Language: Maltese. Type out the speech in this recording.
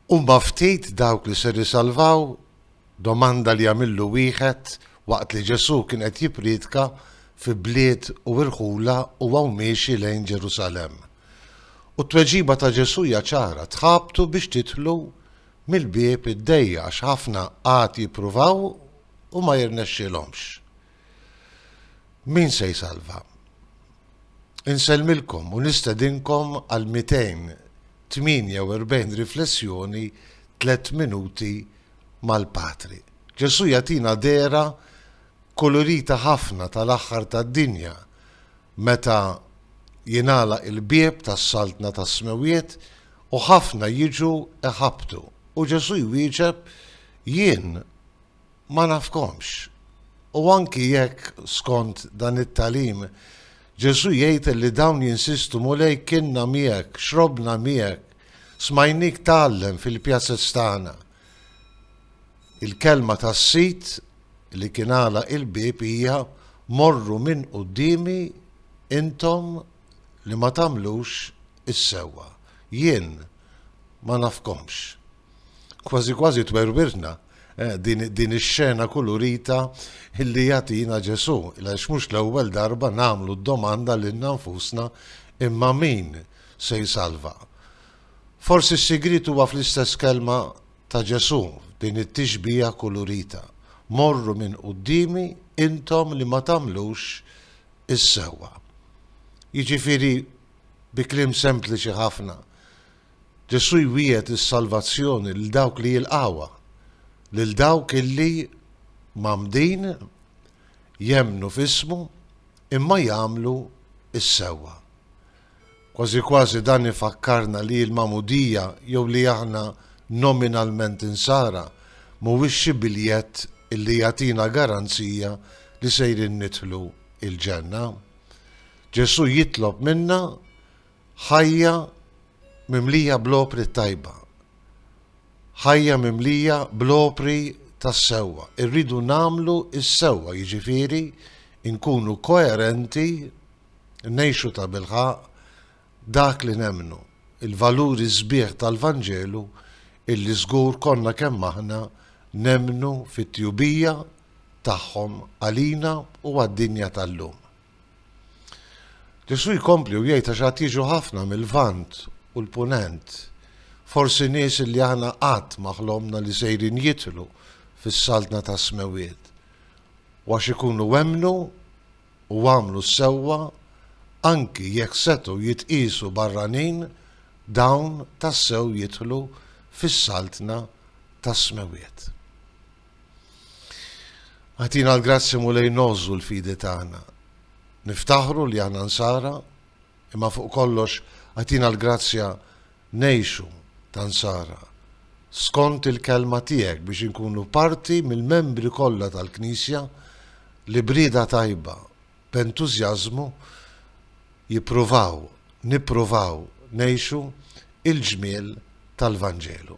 Huma ftit dawk li ser isalvaw? domanda li għamillu wieħed waqt li Ġesù kien qed jippriedka fi bliet u irħula huwa u miexi lejn Ġerusalemm. U t-tweġiba ta' Ġesù hija ċara, tħabtu biex tidħlu mill-bieb id-dejjaq għax ħafna għad jippruvaw u ma jirnexxilhomx. Min se jsalva? Insellmilkom u nistedinkom għal 248 riflessjoni tliet minuti mal-Patri. Ġesù jagħtina dehra kkulurita ħafna tal-aħħar tad-dinja meta jingħalaq il-bieb tas-Saltna tas-Smewwiet u ħafna jiġu jħabbtu u Ġesù jwieġeb, Jien ma nafkomx. U anki jekk, skont dan it-tagħlim, Ġesù jgħid li dawn jinsistu Mulej kienna miegħek, xrobna miegħek, smajnik tgħallem fil-pjazez tagħna. Il-kelma tas-Sid li kien għalaq il-bieb hija morru minn quddiemi intom li ma tagħmlux is-sewwa. Jien ma nafkomx. Kważi kważi twerwirna eh, din, din ix-xena kulurita illi jagħtina Ġesù, għax mhux l-ewwel darba nagħmlu d-domanda lilna nfusna imma min se jsalva. Forsi s-sigrit huwa fl-istess kelma ta' Ġesù, din it-tixbija kulurita. Morru minn qudiemi intom li ma tagħmlux is-sewwa. Jiġifieri bi kliem sempliċi ħafna, Ġesù jwiegħed is-salvazzjoni lil dawk li jilqgħuha, lil dawk illi mgħammdin, jemmnu f'ismu, imma jagħmlu s-sewwa. Kważi kważi dan ifakkarna li l-magħmudija jew li aħna nominalment Insara mhuwiex xi biljett illi jagħtina garanzija li sejrin nidħlu l-Ġenna. Ġesù jitlob minna Ħajja mimlija bl-opri t-tajba. Ħajja mimlija bl-opri tas-sewwa. Irridu nagħmlu s-sewwa, jiġifieri nkunu koerenti, ngħixu tabilħaqq dak li nemmnu, il-valuri sbieħ tal-Vanġelu illi żgur konna kemm aħna nemmnu fit-tjubija tagħhom għalina u għad-dinja tal-lum. Ġesù jkompli u jgħid għax għad jiġu ħafna mill-Lvant u l-Punent, forsi nies li aħna qatt ma ħlomna li sejrin jidħlu fis-saltna tas-smewwiet, u għax ikunu emmnu u għamlu s-sewwa anki jekk setgħu jitqiesu barranin dawn tassew jidħlu fis-saltna tas-smewwiet. Agħtina l-grazzi Mulej ngħożżu l-fidi tagħna. Niftaħru li aħna nsara, imma fuq kollox agħtina l-grazzja ngħixu ta' nsara skont il-kelma tiegħek biex inkunu parti mill-membri kollha tal-Knisja li brida tajba b'entużjażmu jippruvaw, nippruvaw ngħixu il-ġmiel tal-Vanġelu.